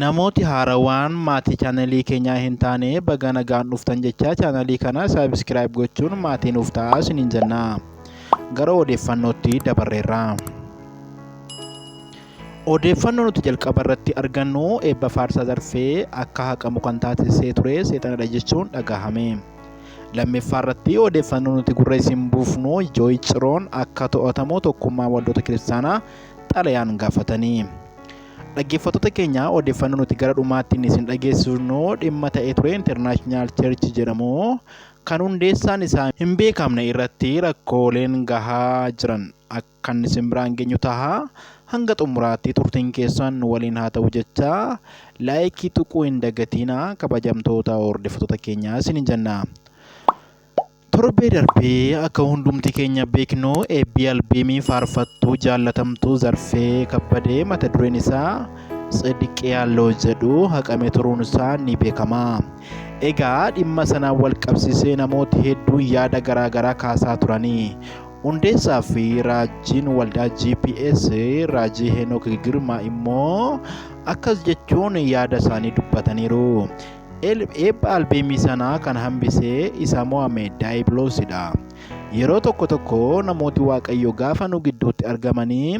Namooti haarawaan maatii chaanalii keenyaa hin taane baga nagaan dhuftan jechaa chaanalii kana subscribe gochuun maatii nuuf ta'aa isiniin jenna. Gara odeeffannootti dabarreerra. Odeeffannoo nuti jalqaba irratti argannu eebba faarsaa zarfee akka haqamu kan taasisee ture seexanadha jechuun dhagahame. Lammiffaa irratti odeeffannoo nuti gurra isin buufnu Jooyi Ciroon akka to'atamu tokkummaa waldoota kiristaanaa xalayaan gaafatanii. Dhaggeeffattoota keenya odeeffannoo nuti gara dhumaattiin isin dhageessisnu dhimma ta'ee ture International Church jedhamu kan hundeessaan isaa hin beekamne irratti rakkooleen gahaa jiran akkan isin biraan geenyu taha hanga xumuraatti turtiin keessan nu waliin haa ta'u jecha laayikii tuquu hin dagatiina kabajamtoota hordoftoota keenya isiniin jenna. Torbee darbe akka hundumti keenya beeknu eebbii albeemii faarfattuu jaallatamtuu Zarfee Kabbadee mata dureen isaa Tsidiqi Yaalloo jedhu haqame turuun isaa ni beekama. Egaa dhimma sanaan wal qabsiisee namooti hedduun yaada garaa garaa kaasaa turani. Hundeessaa fi raajiin waldaa GPS raajii Heenok Girmaa immoo akkas jechuun yaada isaanii dubbataniiru. Eebba albeemii sanaa kan hambisee isa mo'ame daayibiloosidha. Yeroo tokko tokko namooti Waaqayyo gaafa nu gidduutti argamanii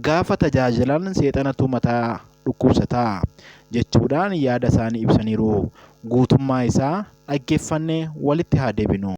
gaafa tajaajilan seexanatu mataa dhukkubsata jechuudhaan yaada isaanii ibsaniiru. Guutummaa isaa dhaggeeffannee walitti haa deebinu.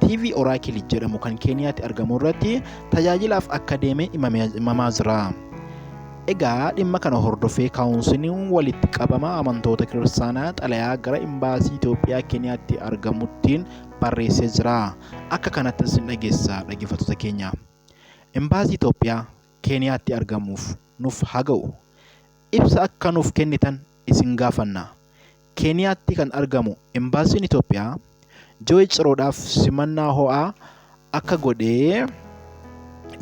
TV Oraakili jedhamu kan Keeniyaatti argamu irratti tajaajilaaf akka deeme himamaa jira. Egaa dhimma kana hordofee kaawunsiliin walitti qabama amantoota kiristaanaa xalayaa gara imbaasii Itoophiyaa Keeniyaatti argamuttiin barreessee jira. Akka kanatti isin dhageessa dhaggeeffattoota keenya. Imbaasii Itoophiyaa Keeniyaatti argamuuf nuuf haa ga'u. Ibsa akka nuuf kennitan isin gaafanna. Keeniyaatti kan argamu Embaasiin Itoophiyaa Jooy Ciroodhaaf simannaa ho'aa akka godhe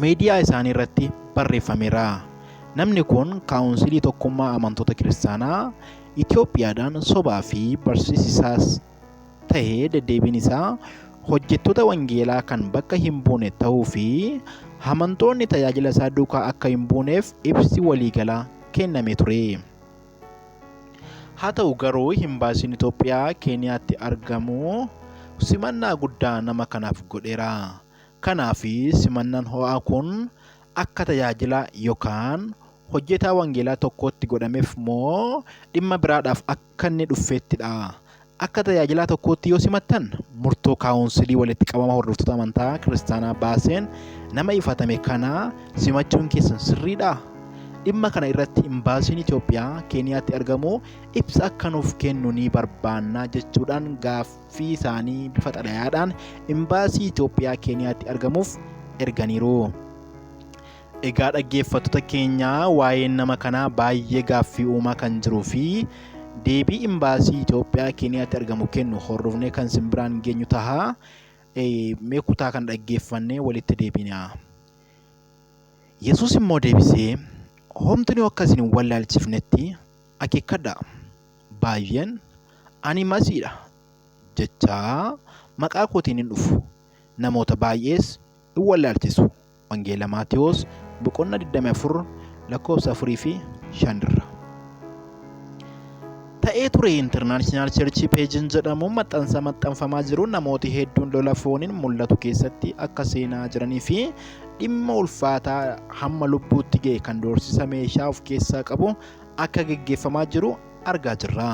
miidiyaa isaanii irratti barreeffameera. Namni kun Kaawunsilii Tokkummaa Amantoota Kiristaanaa Itoophiyaadhaan sobaa fi barsiisi isaas tahe deddeebiin isaa hojjettoota wangeelaa kan bakka hin buune ta'uu fi amantoonni tajaajila isaa duukaa akka hin buuneef ibsi waliigalaa kenname ture. Haa ta'u garuu imbaasiin Itoophiyaa Keeniyaatti argamu simannaa guddaa nama kanaaf godheera. Kanaaf simannaan ho'aa kun akka tajaajilaa yookaan hojjetaa wangeelaa tokkootti godhameef moo dhimma biraadhaaf akka kan ni dhuffeetti dha. Akka tajaajilaa tokkootti yoo simattan, murtoo kaawunsilii walitti qabama hordoftoota amantaa kiristaanaa baaseen nama ifatame kana simachuun keessan sirriidha? Dhimma kana irratti imbaasiin Itoophiyaa Keeniyaatti argamu ibsa akka nuuf kennu ni barbaanna jechuudhaan gaaffii isaanii bifa xalayaadhaan imbaasii Itoophiyaa Keeniyaatti argamuuf erganiiru. Egaa dhaggeeffattoota keenya waa'een nama kanaa baay'ee gaaffii uumaa kan jiruu fi deebii imbaasii Itoophiyaa Keeniyaatti argamu kennu hordofnee kan isin biraan geenyu taha. Eh, Mee kutaa kan dhaggeeffannee walitti deebinaa. Yesuus immoo deebisee, Homtuni akka isin hin wallaalchifnetti akeekkadhaa. Baay'een, Ani Masiidha jechaa maqaa kootiin in dhufu, namoota baay'ees in wallaalchisu. Wangeela Maatewos boqonnaa 24 lakkoofsa 4 fi 5 irra. Ta'ee ture International Church Page'n jedhamu maxxansa maxxanfamaa jiru namooti hedduun lola fooniin mul'atu keessatti akka seenaa jiranii fi dhimma ulfaataa hamma lubbuutti ga'e kan doorsisa meeshaa of keessaa qabu akka geggeeffamaa jiru argaa jirra.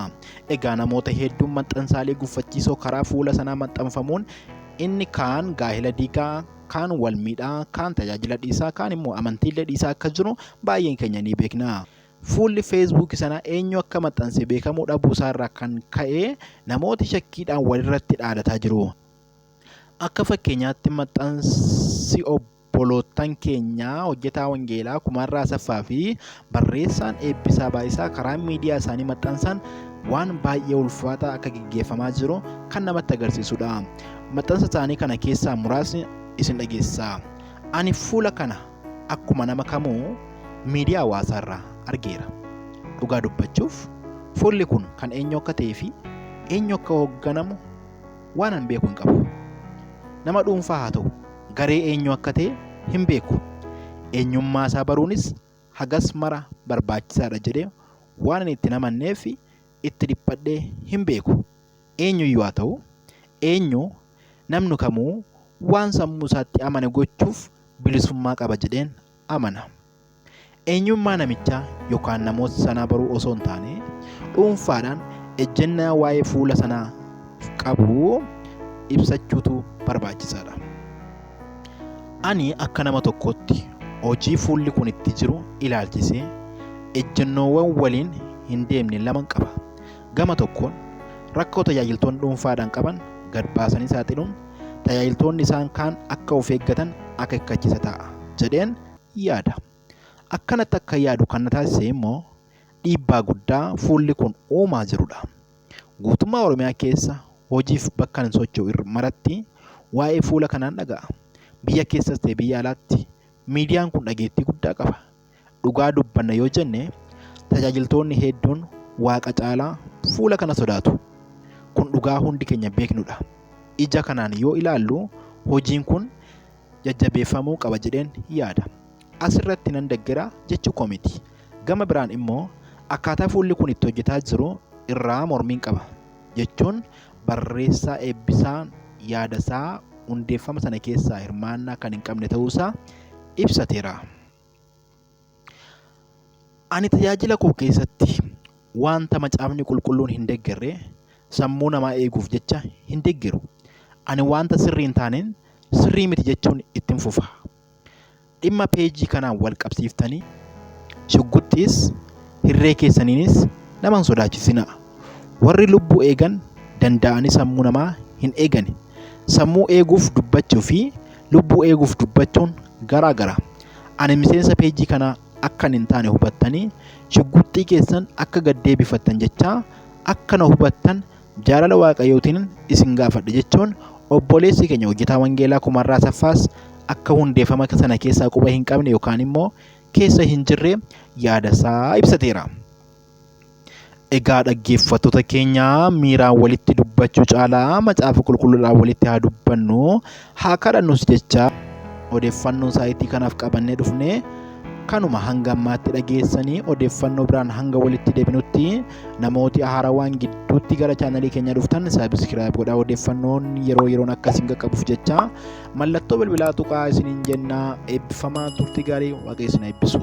Egaa namoota hedduun maxxansaalee guffachiisoo karaa fuula sanaa maxxanfamuun inni kaan gaa'ela diigaa, kaan wal miidha, kaan tajaajila dhiisa, kaan immoo amantiillee dhiisaa akka jiru baay'een keenya ni beekna. Fuulli feesbuukii sana eenyu akka maxxanse beekamuu dhabuu isaarraa kan ka'e namooti shakkiidhaan walirratti dhaadataa jiru. Akka fakkeenyaatti maxxansi obboloottan keenyaa hojjetaa wangeelaa Kumarraa Asaffaa fi Barreessaan Eebbisaa Baayisaa karaa miidiyaa isaanii maxxansaan waan baay'ee ulfaataa akka geggeeffamaa jiru kan namatti agarsiisudha. Maxxansa isaanii kana keessaa muraasni isin dhageessisaa. Ani fuula kana akkuma nama kamuu miidiyaa hawaasaa irraa argeera. Dhugaa dubbachuuf fuulli kun kan eenyu akka ta'ee fi eenyu akka hoogganamu waan an beeku hin qabu. Nama dhuunfaa haa ta'u garee eenyu akka ta'e hin beeku. Eenyummaa isaa baruunis hagas mara barbaachisaadha jedhee waanan itti hin amanneef itti dhiphadhee hin beeku. Eenyuyyuu haa ta'u eenyu namni kamuu waan sammuu isaatti amane gochuuf bilisummaa qaba jedheen amana. Eenyummaa namichaa yookaan namoota sanaa baruu osoo hin taane dhuunfaadhaan ejjennaa waa'ee fuula sanaa qabu ibsachuutu barbaachisaadha. Ani akka nama tokkootti hojii fuulli kun itti jiru ilaalchisee ejjennoowwan waliin hin deemne lama qaba. Gama tokkoon rakkoo tajaajiltoonni dhuunfaadhaan qaban gad baasanii saaxiluun tajaajiltoonni isaan kaan akka of eeggatan akeekkachiisa ta'a jedheen yaada. Akkanatti akka yaadu kan na taasise immoo dhiibbaa guddaa fuulli kun uumaa jirudha. Guutummaa Oromiyaa keessa hojiif bakka ani socho'u irra maratti waa'ee fuula kanaan dhaga'a. Biyya keessas ta'e biyya alaatti miidiyaan kun dhageettii guddaa qaba. Dhugaa dubbanna yoo jenne tajaajiltoonni hedduun waaqa caalaa fuula kana sodaatu. Kun dhugaa hundi keenya beeknudha. Ija kanaan yoo ilaallu hojiin kun jajjabeeffamuu qaba jedheen yaada. As irratti nan deggera jechuu koo miti. Gama biraan immoo akkaataa fuulli kun itti hojjetaa jiru irraa mormiin qaba jechuun barreessaa Eebbisaan yaadasaa hundeeffama sana keessaa hirmaannaa kan hin qabne ta'uusaa ibsateera. Ani tajaajila koo keessatti wanta macaafni qulqulluun hin deggerre sammuu namaa eeguuf jecha hin deggeru. Ani wanta sirrii hin taaneen sirrii miti jechuun ittiin fufa. Dhimma peejii kanaan wal qabsiiftanii shugguxxiis hirree keessaniinis nama hin sodaachisinaa. Warri lubbuu eegan danda'anii sammuu namaa hin eegani. Sammuu eeguuf dubbachuu fi lubbuu eeguuf dubbachuun garaa gara. Ani miseensa peejii kanaa akkan hin taane hubattanii shugguxxii keessan akka gad deebifattan jechaa akka na hubattan jaalala waaqayyootiin isin gaafadha jechuun obboleessi keenya hojjetaa wangeelaa kumarraa saffaas akka hundeeffama sana keessaa quba hin qabne yookaan immoo keessa hin jirre yaadasaa ibsateera. Egaa dhaggeeffattoota keenya miiraan walitti dubbachuu caalaa macaafa qulqulluudhaan walitti haa dubbannu haa kadhannus jecha odeeffannoo saayitii kanaaf qabannee dhufne kanuma hanga ammaatti dhageessanii odeeffannoo biraan hanga walitti deebinutti namooti haarawaan gidduutti gara chaanalii keenya dhuftan saabiskiraayib godhaa odeeffannoon yeroo yeroon akka isin qaqqabuuf jecha mallattoo bilbilaa tuqaa isiniin jennaa eebbifamaa turtii gaarii waaqayyo isin eebbisu.